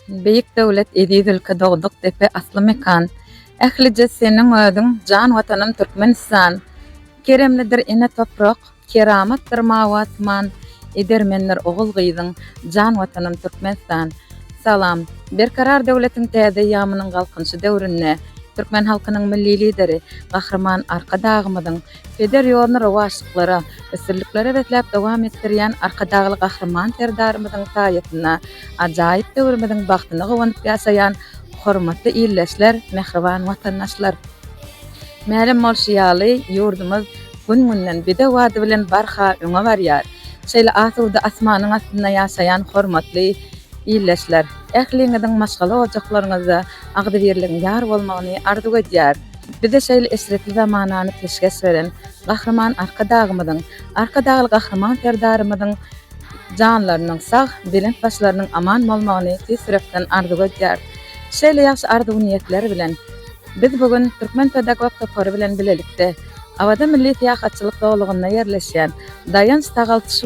Beýik döwlet eziz ülke dogduk depe asly mekan Ählije seniň özüň jan watanym Türkmenistan Keremlidir ene toprak keramatdyr mawy asman Edermendir ogul gyzyň jan watanym Türkmenistan Salam Berkarar döwletiň täze eýýamynyň Galkynyşy döwründe Türkmen halkynyň Milli Lideri Gahryman Arkadagymyzyň Peder ýoluny rowaçlyklara, üstünliklere besläp dowam etdirýän Arkadagly Gahryman Serdarymyzyň saýasynda ajaýyp döwrümiziň bagtyna guwanyp ýaşaýan hormatly ildeşler, mähriban watandaşlar! Mälim bolşy ýaly, ýurdumyz gün-günden bide bady bilen barha öňe barýar. Şeýle asuda asmanyň astynda ýaşaýan hormatly ildeşler! Ähliňiziň maşgala ojaklaryňyzda agzybirligiň ýar bolmagyny arzuw edýäris! Bize şeýle eşretli zamanany peşgeş beren Gahryman Arkadagymyzyň, Arkadagly Gahryman Serdarymyzyň janlarynyň sag, belent başlarynyň aman bolmagyny tüýs ýürekden arzuw edýäris. Şeýle ýagşy arzuw-niýetler bilen, biz bu gün Türkmen pedagog topary bilen bilelikde Awaza milli syýahatçylyk zolagynda ýerleşýän Daýanç-sagalç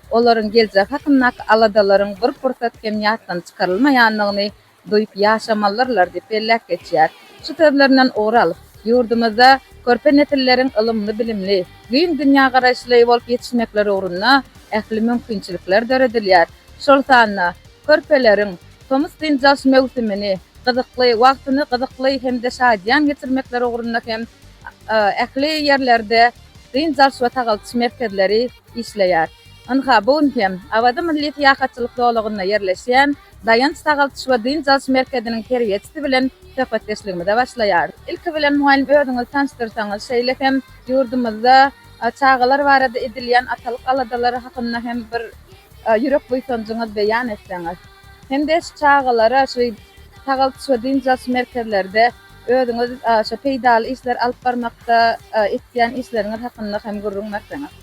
olaryň geljek hakyndaky aladalaryň bir pursat hem ýatdan çykarylmaýandygyny duýup ýaşamalyrlar diýip belläp geçýär. Şu sözlerinden ugur alyp, ýurdumyzda körpe nesilleriň ylymly-bilimli, giň dünýägaraýyşly bolup ýetişmekleri ugrunda ähli mümkinçilikler döredilýär. Şol sanda körpeleriň tomus dynç alyş möwsümini gyzykly, wagtyny gyzykly hem-de şadyýan geçirmekleri ugrunda hem ähli ýerlerde dynç alyş we sagaldyş merkezleri, işleýär. Ynha, bu gün hem Awaza milli syýahatçylyk zolagynda ýerleşýän Daýanç sagaldyş we dynç alyş merkeziniň terbiýeçisi bilen söhbetdeşligimize başlaýarys. Ilki bilen, mugallym, özüňizi tanyşdyrsaňyz, şeýle hem ýurdumyzda çagalar barada edilýän atalyk aladalary hakynda hem bir ýürek buýsanjyňyzy beýan etseňiz. Hem-de şu çagalara şu sagaldyş we dynç alyş merkezlerde Özüňiz şu peýdaly işleri alyp barmakda etýän işleriňiz hakynda hem gürrüň berseňiz.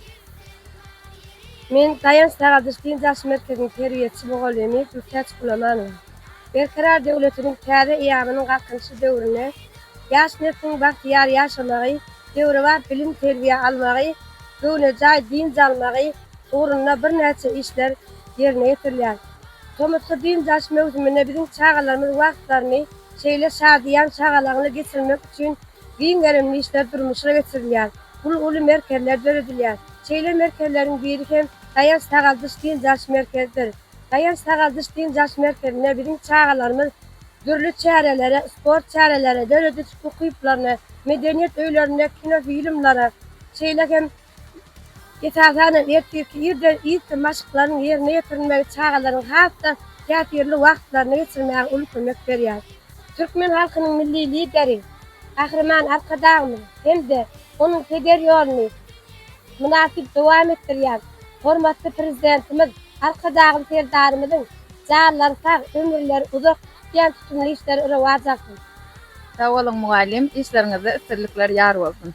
Men Daýanç Sagadyş dynç alyş merkeziniň terbiýeçi mugallymy Gültäç Gulamanowa. Berkarar döwletimiz täze eýamynyň Galkynyşy döwründe ýaş nesliň bagtyýar ýaşamagy, döwrebap bilim-terbiýe almagy, göwnejaý dynç almagy ugrunda birnäçe işler ýerine ýetirilýär. Tomusky dynç alyş möwsüminde biziň çagalarymyz wagtlaryny, Şeýle şadyýan şagalaňly geçirmek üçin giň gerimli işler durmuşa geçirilýär. Uly uly merkezler döredilýär. Şeýle merkezleriň biri hem Daýanç-sagaldyş dynç alyş merkezidir. Daýanç-sagaldyş dynç alyş merkezinde biziň çagalarymyz dürli çärelere, sport çärelere, döredijilik ukyplaryna, medeniýet öýlerinde kinofilmlere, şeýle hem. Esasan hem, ertirki irden ilki maşklaryň ýerine ýetirilmegi çagalaryň has-da täsirli wagtlaryny geçirmäge uly kömek berýär. Türkmen halkynyň Milli Lideri Gahryman Arkadagymyz hem-de onuň peder ýoluny mynasyp dowam etdirýän hormatly Prezidentimiz Arkadagly Serdarymyzyň janlary sag, ömürleri uzak, tutýan tutumly işleri rowaç alsyn! Sag boluň mugallym, işleriňizde üstünlikler ýar bolsun!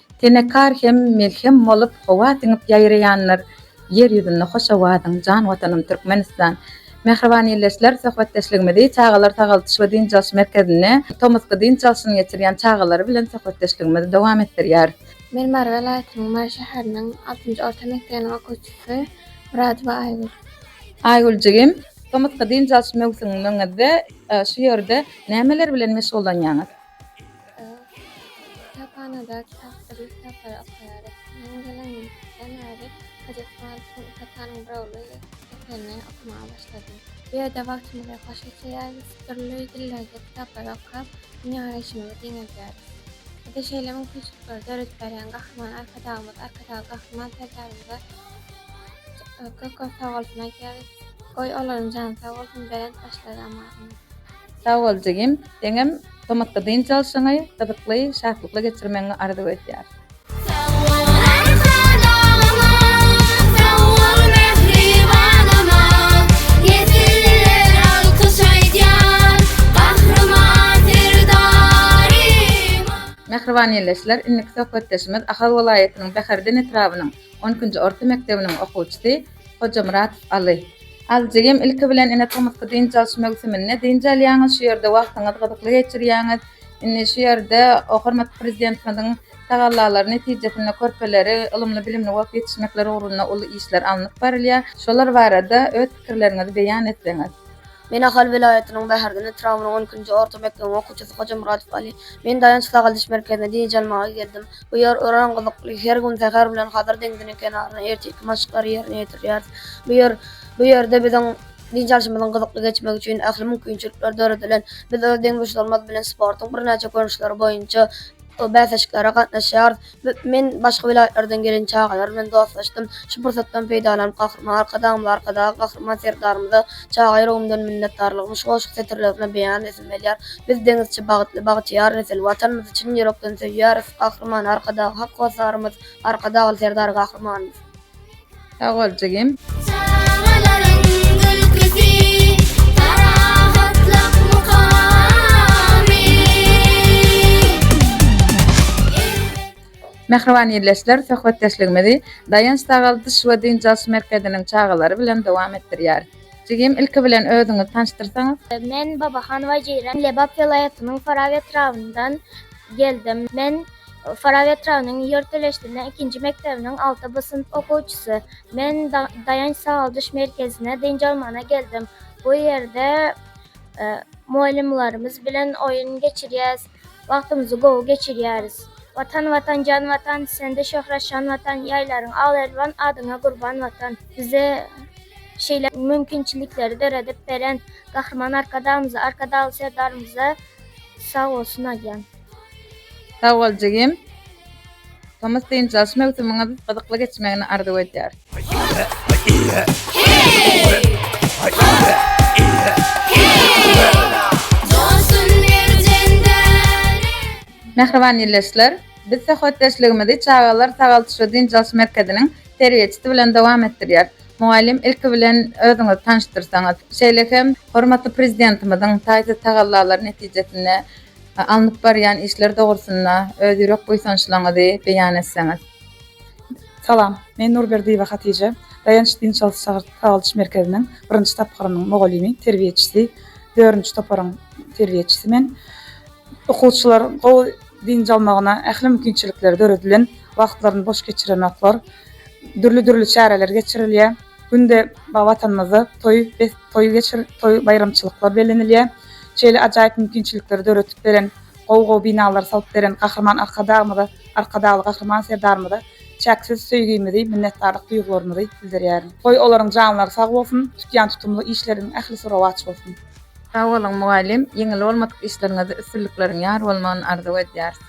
Tenekar hem melhem bolup howa siňip ýaýraýandyr Ýer ýüzünde hoş owazyň, jan Watanym Türkmenistan! Mähriban ildeşler, söhbetdeşligimizi Çagalar sagaldyş we dynç alyş merkezinde tomusky dynç alşyny geçirýän çagalar bilen söhbetdeşligimizi dowam etdirýäris. Men Mary welaýatynyň Mary şäheriniň altynjy orta mekdebiniň okuwçysy Myradowa Aýgül. Aýgül jigim, tomusky dynç alyş möwsümiňizde şu ýerde nämeler bilen meşgullanýaňyz? Ýa-da kitaphanada kitapdyr kitaplary okaýarys. Meniň gelenimden bäri Hojat Malikden iki sany Brauly eserini okamaga başladym. Bu ýerde wagtymyzy hoş geçirýäris, dürli dillerde kitaplar okap, dünýägaraýşymyzy giňeldýäris. Bize şeýle mümkinçilikleri döredip berýän Gahryman Arkadagymyz, Arkadagly Gahryman Serdarymyza köp-köp sag bolsun aýdýarys. Goý, olaryň jany sag bolsun, belent başlary aman. Sag bol jigim, seňem gymmatly dynç alşyňy, gyzykly, şatlykly geçirmegiňi arzuw edýäris. Sag bol Aýhan agama, sag bol mähriban anam, nesiller alkyş aýdýar Gahryman Serdaryma. Mähriban ildeşler, indiki söhbetdeşimiz Ahal welaýatynyň Bäherden etrabynyň on ikinji orta mekdebiniň okuwçysy Hojamyrat, Aly. Aly jigim, ilki bilen ine tomusky dynç alyş möwsüminde dynç alýaňyz, şu ýerde wagtyňyzy gyzykly geçirýäňiz. Indi şu ýerde hormatly Prezidentimiziň tagallalary netijesinde körpeleri ylymly-bilimli bolup ýetişmekleri ugrunda uly işler alnyp barylýar. Şolar barada öz pikirleriňizi beýan etseňiz. Men Ahal welaýatynyň Bäherden etrabynyn on ikinji orta mekdebiň okuwçysy Hojamyradow Aly. Men Daýanç-sagaldyş merkezine dynç almaga geldim. Bu ýer örän gyzykly. Her gün säher bilen Hazar deňziniň kenarynda ertirki maşklary ýerine ýetirýäris. Bu ýer bu ýerde biziň dynç alşymyzyň gyzykly geçmegi üçin ähli mümkinçilikler döredilen. Biz öz deňduşlarymyz bilen sportuň birnäçe görnüşleri boýunça bäsleşiklere gatnaşýarys. Men başga welaýatlardan gelen çagalar bilen dostlaşdym. Şu pursatdan peýdalanyp, Gahryman Arkadagymyza, Arkadagly Gahryman Serdarymyza çaga ýüregimden minnetdarlygymy şu goşgy setirlerine beýan edesim gelýär. Biz deňizçi, bagytly, bagtyýar nesil. Watanymyzy çyn ýürekden söýýäris. Gahryman Arkadagy, hak hossarymyz, Arkadagly Serdar Gahrymanymyz! Sag bol jigim. Mähriban ildeşler, söhbetdeşligimizi Daýanç sagaldyş we dynç alyş merkeziniň çagalary bilen dowam etdirýäris. Jigim, ilki bilen özüňizi tanyşdyrsaňyz? Men Babahan Wajeýran, Lebap welaýatynyň Farap etrabyndan geldim. Men Farap etrabynyň Ýörteleşdine ikinji mekdebiniň alty B synp okuwçysy. Men Daýanç sagaldyş merkezine dynç almagyna geldim. Bu ýerde mugallymlarymyz bilen oýun geçirýäs, wagtymyzy gowy geçirýäris. Watan Watan jan Watan, sende şöhrat şan Watan, ýaýlaryň al-elwan, adyňa gurban Watan. Bize şeýle mümkinçilikleri döredip beren Gahryman Arkadagymyza, Arkadagly Serdarymyza sag bolsun aýdýan. Sag bol jigim. Tomus dynç alyş möwsümiňiz gyzykly geçmegini arzuw edýär. Mähriban ýilleşler, biz söhbetdeşligimizi çagalar sagaldyş we dynç alyş merkeziniň terbiýeçisi bilen dowam etdirýäris. Mugallym ilki bilen özüňizi tanyşdyrsaňyz, şeýle hem hormatly Prezidentimiziň taýsyz tagallalary netijesinde Alnyp barýan işler dogrusynda öz ýürek buýsançlaňyzy beýan etseňiz. Salam. Men Nurberdiýewa Hatije. Daýanç dynç alyş çagyryş sagaldyş merkeziniň birinji tapgyrynyň mugallymy, terbiýeçisi, dördünji toparyň terbiýeçisi men. Okuwçylar gowy dynç almagyna ähli mümkinçilikler döredilen, wagtlaryny boş geçirenoklar. Dürli-dürli çäreler geçirilýär. Günde ba Watanymyzda toý bes toý geçir toý baýramçylyklar bellenilýär. Şeýle ajaýyp mümkinçilikleri döretip beren, gowy gowy binalary salyp beren Gahryman Arkadagymyza, Arkadagly Gahryman Serdarymyza çäksiz söýgimizi, minnetdarlyk duýgularymyzy bildirýärin. Goý olaryň janlary sag bolsun, tutýan tutumly işleriň ählisi rowaç bolsun. Sag boluň mugallym, ýeňil bolmadyk işleriňizde üstünlikleriň ýar bolmagyny arzuw edýäris.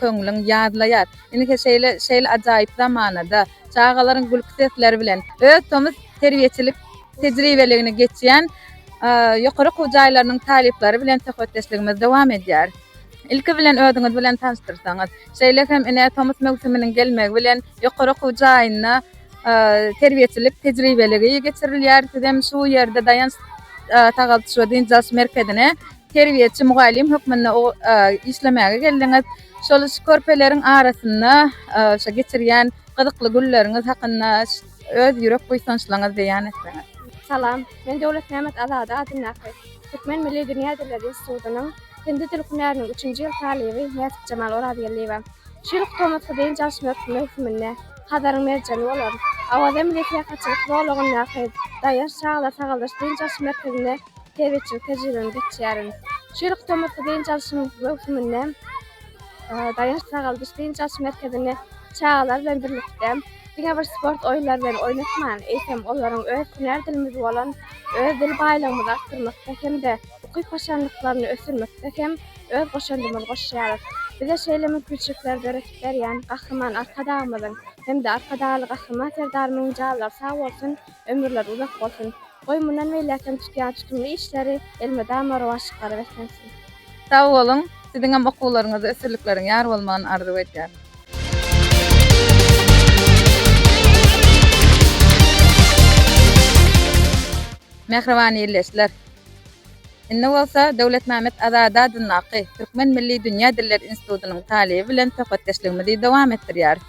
Köňlüň ýazlaýar. Indi-hä şeýle, şeýle ajaýyp zamanada, çagalaryň gülki sesleri bilen, öz tomus terbiýeçilik tejribeligini geçýän ýokary okuw jaýlarynyň talyplary bilen söhbetdeşligimiz dowam edýär. Ilki bilen özüňiz bilen tanyşdyrsaňyz. Şeýle hem ine, tomus möwsüminiň gelmegi bilen ýokary okuw jaýynda terbiýeçilik tejribeligi geçirilýär. Sizem şu ýerde Daýanç-sagaldyş we dynç alyş merkezine Terbiýeçi mugallym hökmünde işlemäge geldiňiz. Şol şu körpeleriň arasynda şu geçirýän gyzykly günleriňiz hakynda öz ýürek buýsançlaryňyzy beýan etseňiz. Salam. Men Döwletmämmet Azady adyndaky Türkmen milli dünýä dilleri institutynyň hindi dil hünäriniň üçünji ýyl talyby Näsipjemal Orazgeldiýewa. Şu ýylky tomusky dynç alyş möwsüminde Hazaryň merjeni bolan Awaza milli syýahatçylyk zolagyndaky Daýaş çagalar sagaldyryş-dynç alyş merkezinde Tebigy tejribemi geçýärin. Çüýrük tomusky dynç alşyň möwsüminde Daýanç-sagaldyş dynç alş merkezini çagalar bilen birlikde diňe bir sport oýunlary bilen oýnatman, eýsem, olaryň öz hünär dilimiz bolan öz dil baýlygymyzy artdyrmakda hem-de ukyp-başarnyklaryny ösdürmekde hem öz goşandymyzy goşýarys. Bize şeýle mümkinçilikleri döredip berýän Gahryman Arkadagymyzyň hem-de Arkadagly Gahryman Serdarymyň janlary sag bolsun, ömürleri uzak bolsun! Goý mundan beýläkem tutýan tutumly işleri elmydama rowaç çykaryp eklensin. Sag boluň, siziňem okuwlaryňyzda ösürlikleriň ýar bolmagyny arzuw edýärin. Mähriban ildeşler! Indi bolsa Döwletmämmet Azady adyndaky Türkmen milli dünýä dilleri institutynyň talyby bilen söhbetdeşligimizi dowam etdirýäris.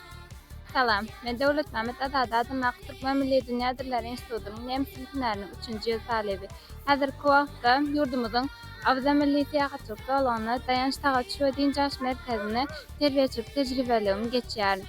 Salam. Men Döwletmämmet Azady adym ak Türkmen milli dünýä dillary institutynyň nemes dili hünäriniň üçünji ýyl talyby. Häzirki wagtda ýurdumyzyň Awaza milli syýahatçylyk zolagyna, Daýanç tagaç we dynç alyş merkezine terbiýeçilik tejribeligimi geçýärin.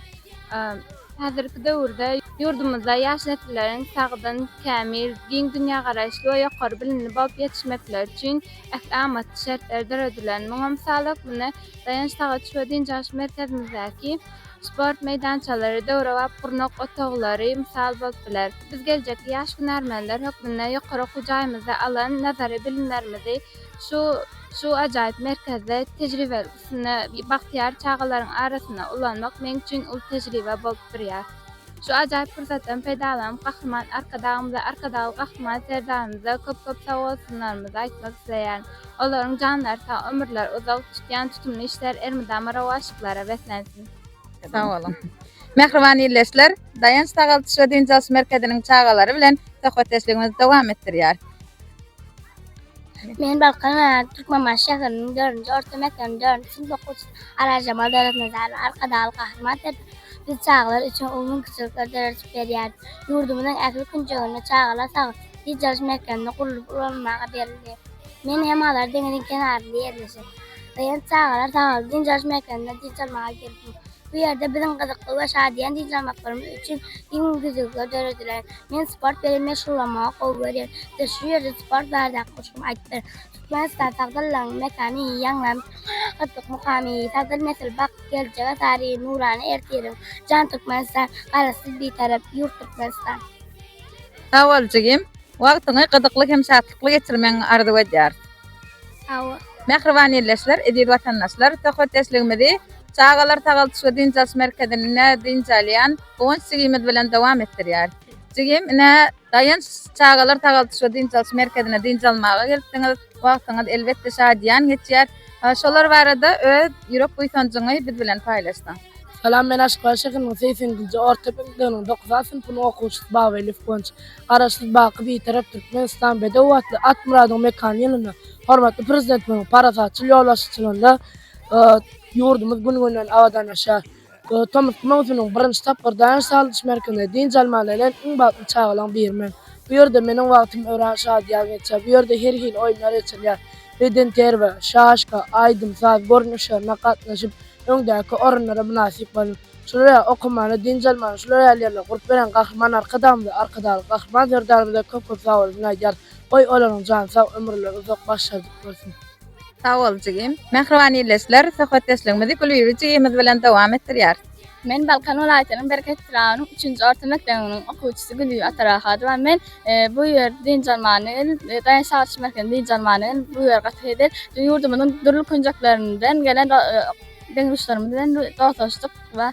Häzirki döwürde ýurdumyzda ýaş nesilleriň sagdyn, kämil, giň dünýägaraýyşly we ýokary bilimli bolup ýetişmekleri üçin ähli amatly şertler döredilen. Muňa mysal hökmünde Daýanç tagaç we dynç alyş merkezimizdäki Sport meýdançalary, döwrebap gurnak otaglary mysal bolup biler. Biz geljekki ýaş hünärmenler hökmünde ýokary okuw jaýymyzda alan nazary bilimlerimizi şu şu ajaýyp merkezde tejribelik üstünde bagtyýar çagalaryň arasynda ulanmak meň üçin uly tejribe bolup durýar. Şu ajaýyp pursatdan peýdalanyp, Gahryman Arkadagymyza, Arkadagly Gahryman Serdarymyza köp-köp sagbolsunlarymyzy aýtmak isleýärin. Olaryň janlary sag, ömürleri uzak, tutýan tutumly işleri elmydama rowaçlyklara beslensin! Sag boluň! Mähriban ildeşler, Daýanç sagaldyş we dynç alyş merkeziniň çagalary bilen söhbetdeşligimizi dowam etdirýäris. Men Balkan welaýaty Türkmenbaşy şäheriniň dördünji orta mekdebiniň dördünji synp okuwçysy Arazjemal Döwletnazarova. Arkadagly Gahryman Serdarymyz biz çagalar üçin uly mümkinçilikleri döredip berýär. Ýurdumyzyň ähli künjeginde çagalar sagat dynç alyş merkezini gurlup ulanylmaga berildi. Men hem Hazar deňziň kenarynda ýerleşen Raýant çagalar sagaly dynç alyş merkezinde dynç almaga geldim. Bu ýerde biziň gyzykly we şadyýan dynç almaklarymyz üçin giň düzlükler döredilen. Men sport bilen meşgullanmagy gowy görýän. Bize şu ýerde sport baradaky goşgym aýdyp ber. Türkmenistan sagdynlygyň mekany, ýaňlan parahatlyk mukamy, sagdyn nesil bagt, geljege sary nurana ertiriň, jan Türkmenistan, Garaşsyz Bitarap ýurt Türkmenistan. Sag bol jigim. Wagtyňy gyzykly hem şatlykly geçirmegiňi arzuw edýäris. Sag bol. Mähriban illeşler, eziz watandaşlar, söhbetdeşligimizi Çagalar sagaldyş we dynç alyş merkezinde dynç alýan Guwanç jigimiz bilen dowam etdirýäris. Jigim, ine, Daýanç çagalar sagaldyş we dynç alyş merkezine dynç almaga gelipsiňiz. Wagtyňyz, elbetde, şadyýan geçýär. Şolar barada öz ýürek buýsanjyňy biz bilen paýlaşsaň? Salam, men Aşgabat şäheriniň segsen ikinji orta mekdebiniň dokuz A synpynyň okuwçysy Babaliýew Guwanç. Garaşsyz, baky Bitarap Türkmenistan bedew atly Atmyradyň mekany ýylynda hormatly Prezidentimiziň parasatçyl ýolbaşçylygynda Ýurdumyz gün-günden abadanlaşýar. Tomusky möwsümiň birinji tapgyr Daýanç sagadyş merkezinde dynç almaga gelen iň bagtly çagalaryň biri men. Bu ýerde meniň wagtym örän şadyýan geçýär. Bu ýerde her hili oýunlar geçirilýär. Bedenterbiýe, şaşka, aýdym, saz görnüşlerine gatnaşyp, öňdäki orunlara mynasyp boldum. Şular ýaly okamana, dynç almana şular ýaly ýerler gurup beren Gahryman Arkadagymyza, Arkadagly Gahryman Serdarymyza köp-köp sag bolsun aýdýarys. Goý, olaryň jany sag, ömürleri uzak, başlary dik bolsun! Sag bol jigim. Mähriban ildeşler, söhbetdeşligimizi Gülbibi jigimiz bilen dowam etdirýäris. Men Balkan welaýatynyň Bereket etrabynyň üçünji orta mekdebiniň okuwçysy Gülbibi Atarahadowa. Men bu ýerde dynç almana geldim. Daýanç saglyş merkezine dynç almana geldim. Bu ýer gaty gezel. Ýurdumyzyň dürli künjeklerinden gelen deň-duşlarymyz bilen dostlaşdyk we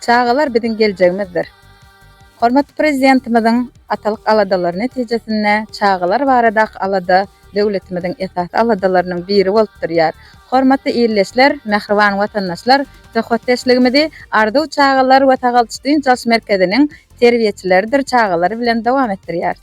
Çagalar biziň geljegimizdir. Hormatly Prezidentimiziň atalyk aladalary netijesinde çagalar baradaky alada döwletimiziň esasy aladalarynyň biri bolup durýar. Hormatly ildeşler, mähriban watandaşlar, söhbetdeşligimizi Arzuw çagalar we sagaldyş-dynç alyş merkeziniň terbiýeçileridir çagalary bilen dowam etdirýäris.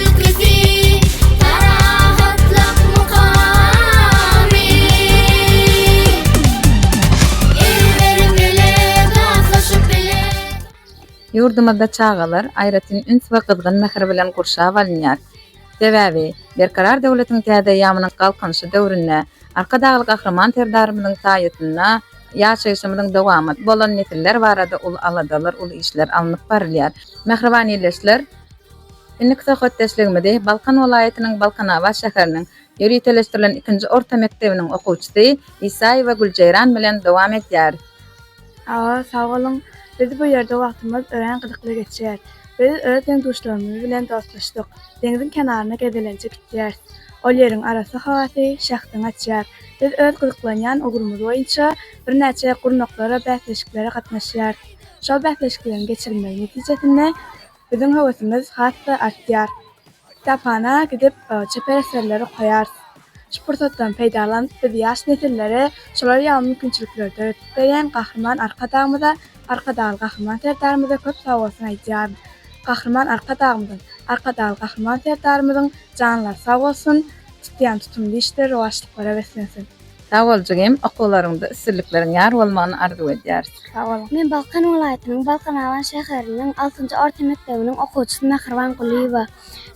Öwgüsi, parahatlyk mukamy. El berip bile, datlaşyp bile. Ýurdumyzda çagalar aýratyn üns we gyzgyn mähir bilen gurşap alynýar. Sebäbi, Berkarar döwletiň täze eýýamynyň Galkynyşy döwründe Arkadagly Gahryman Serdarymyzyň saýasynda ýaşaýşymyzyň dowamaty bolan nesiller barada uly aladalar, uly işler alnyp barylýar. Mähriban ýerleşler! Indiki söhbetdeşligimizi Balkan welaýatynyň Balkanabat şäheriniň ýöriteleşdirilen ikinji orta mekdebiniň okuwçysy Isaýewa Güljeýran bilen dowam edýäris. Hawa, sag boluň. Biz bu ýerde wagtymyz örän gyzykly geçýär. Biz öz deň-duşlarymyz bilen dostlaşdyk. Deňziň kenaryna gezelenje gitýäris. Ol ýeriň arassa howasy şähdiň açýar. Biz öz gyzyklanýan ugrumyz boýunça birnäçe gurnaklara, bäsleşiklere gatnaşýarys. Şol bäsleşikleriň geçirilmegi netijesinde, Biziň höwesimiz has-da artýar. Kitaphana gidip, çeper eserleri okaýarys. Şu pursatdan peýdalanyp, biz ýaş nesillere şolar ýaly mümkinçilikleri döredip berýän Gahryman Arkadagymyza, Arkadagly Gahryman Serdarymyza köp sag bolsun aýdýaryn. Gahryman Arkadagymyzyň, Arkadagly Gahryman Serdarymyzyň janlary sag bolsun, tutýan tutumly işleri rowaçlyklara beslensin! Sag bol jigim, okuwlaryňda üstünlikleriň ýar bolmagyny arzuw edýäris. Sag boluň. Men Balkan welaýatynyň Balkanabat şäheriniň altynjy orta mekdebiniň okuwçysy Mähriban Gulyýewa.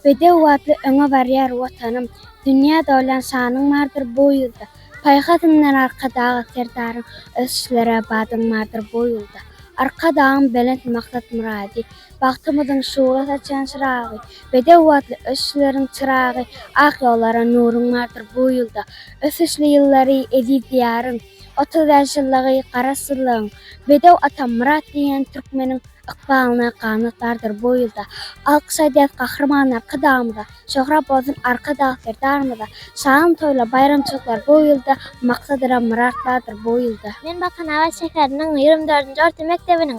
Bedew atly öňe barýar Watanym, Dünýä dolýan şanyň bardyr bu ýylda, Paýhasyndan Arkadag Serdaryň, Ösüşlere badyň bardyr bu ýylda. Arkadagym belent maksat-myrady, Bagtymyzyň şugla saçan çyragy, Bedew atly ösüşleriň çyragy, Ak ýollara nuruň bardyr bu ýylda. Ösüşli ýyllary eziz Diýaryň, Otuz bäş ýyllygy Garaşsyzlygyň, Bedew atam Myrat diýen türkmeniň Ykbalyna ganat bardyr bu ýylda. Alkyş aýdýas Gahryman Arkadagymyza, Şöhrat bolsun Arkadag Serdarymyza, Şadyň toýlar baýramçylyklar bu ýylda, Maksadyra Myrat bardyr bu ýylda. Men Balkanabat şäheriniň ýigrimi dördünji orta mekdebiniň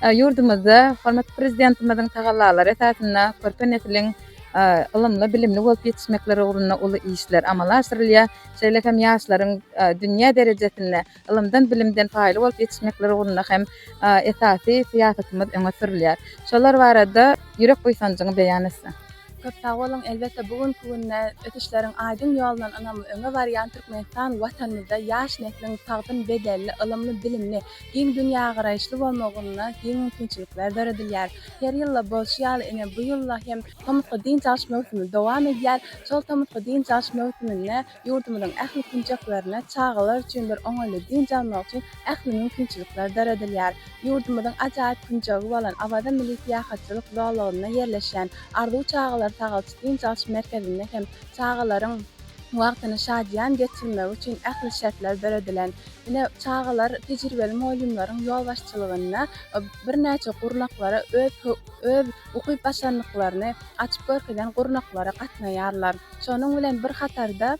Ýurdumyzda hormatly Prezidentimiziň tagallalary esasynda körpe nesliň ylymly-bilimli bolup ýetişmekleri ugrunda uly işler amala aşyrylýar. Şeýle hem ýaşlaryň dünýä derejesinde ylymdan-bilimden paýly bolup ýetişmekleri ugrunda hem esasy syýasatymyz öňe sürülýär. Şolar barada ýürek buýsanjyňy beýan etseň? Köp sag boluň! Elbetde, bu günki günde ösüşleriň aýdyň ýolundan ynamly öňe barýan Türkmenistan Watanymyzda ýaş nesliň sagdyn bedenli, ylymly-bilimli, Giň dünýägaraýyşly bolmagynda giň mümkinçilikler döredilýär. Her ýylda bolşy ýaly ine bu ýylda hem tomusky dynç alyş möwsümi dowam edýär. Şol tomusky dynç alyş möwsüminde ýurdumyzyň ähli künjeklerinde çagalar üçin bir oňaýly dynç almak üçin ähli mümkinçilikler döredilýär. Ýurdumyzyň ajaýyp künjegi bolan Awaza milli syýahatçylyk zolagynda ýerleşýän Arzuw çagalar sagalçy dynç alyş merkezinde hem çagalaryň wagtyny şadyýan geçirmegi üçin ähli şertler döredilen. Ine, çagalar tejribeli mugallymlaryň ýolbaşçylygynda birnäçe gurnaklara öz öz ukyp-başarnyklaryny açyp görkezen gurnaklara gatnaýarlar. Şonuň bilen bir hatarda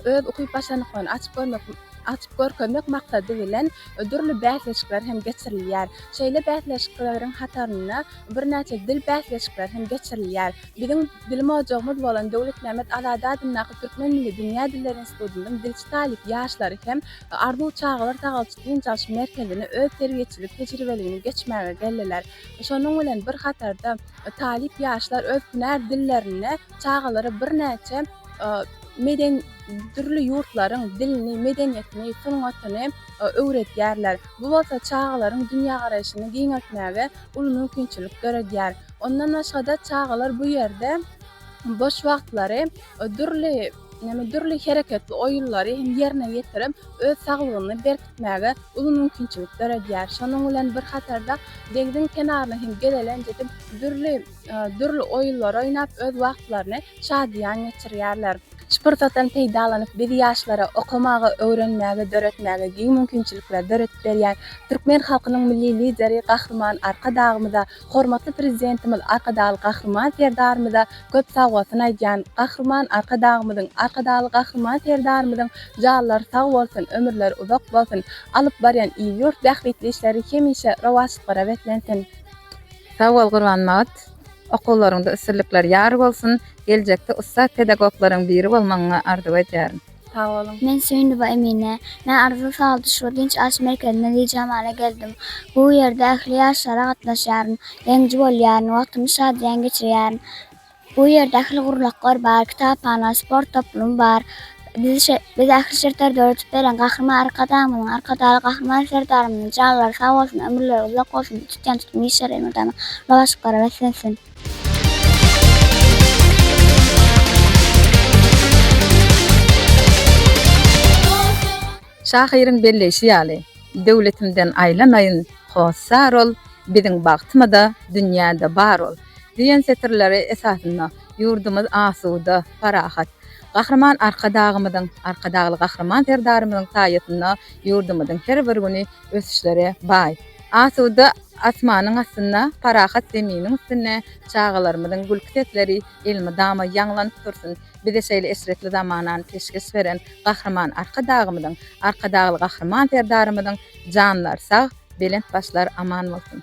öz ukyp-başarnyklaryny açyp görmek açyp görkezmek maksady bilen dürli bäsleşikler hem geçirilýär. Şeýle bäsleşikleriň hatarynda birnäçe dil bäsleşikleri hem geçirilýär. Biziň Bilim ojagymyz bolan Döwletmämmet Azady adyndaky Türkmen milli dünýä dilleri institutynyň dilçi talyp ýaşlary hem Arzuw çagalar sagalçy-dynç alyş merkezine öz terbiýeçilik tejribeligini geçmäge geldiler. Şonuň bilen bir hatarda talyp ýaşlar öz hünär dillerinde çagalara birnäçe medeni dürli ýurtlaryň dilini, medeniýetini, sungatyny öwredýärler. Bu bolsa çagalaryň dünýägaraýşyny giňeltmäge uly mümkinçilik döredýär. Ondan başga-da çagalar bu ýerde boş wagtlary dürli dürli hereketli oýunlary hem ýerine ýetirip, öz saglygyny berkitmäge uly mümkinçilik döredýär. Şonuň bilen bir hatarda deňziň kenaryna hem gelelenç edip, dürli dürli oýunlar oýnap, öz wagtlaryny şadyýan geçirýärler. Şu pursatdan peýdalanyp, biz ýaşlara okamagy, öwrenmäge, döretmäge giň mümkinçilikleri döredip berýän Türkmen halkynyň Milli Lideri Gahryman Arkadagymyza Hormatly Prezidentimiz Arkadagly Gahryman Serdarymyza köp sagbolsun aýdýan. Gahryman Arkadagymyzyň, Arkadagly Gahryman Serdarymyzyň janlary sag bolsun, ömürleri uzak bolsun, alyp barýan il-ýurt bähbitli işleri hemişe rowaçlyklara beslensin! Sag bol Gurbanmagat! Okuwlaryňda üstünlikler ýar bolsun! Geljekde ussat pedagoglaryň biri bolmagyňy arzuw edýärin! Sag boluň. Men Söýünowa Emine. Men Arzyly sagaldyş we dynç alyş merkezine Dijamala geldim. Bu ýerde ähli ýaryşlara gatnaşýaryn, ýeňiji bolýaryn, wagtymy şadyýan geçirýärin. Bu ýerde ähli gurlaklar bar, kitaphana, sport toplumy bar. Bize ähli şertleri döredip beren Gahryman Arkadagymyzyň, Arkadagly Gahryman Serdarymyzyň janlary sag bolsun, ömürleri uzak bolsun, tutýan tutumy işleri elmydama rowaçlyklara beslensin! Şahyryň belleýşi ýaly, Döwletimden aýlanaýyn, hossar ol, Biziň bagtymyz-a dünýäde bar ol. Diýen setirleri esasynda ýurdumyz asuda, parahat. Gahryman Arkadagymyzyň, Arkadagly Gahryman Serdarymyzyň saýasynda ýurdumyzyň her bir güni ösüşlere baý. Asuda asmanyň astynda, parahat zeminiň üstünde çagalarymyzyň gülki sesleri elmydama ýaňlanyp dursun! Bize şeýle eşretli zamanany peşgeş beren Gahryman Arkadagymyzyň, Arkadagly Gahryman Serdarymyzyň janlary sag, belent başlary aman bolsun!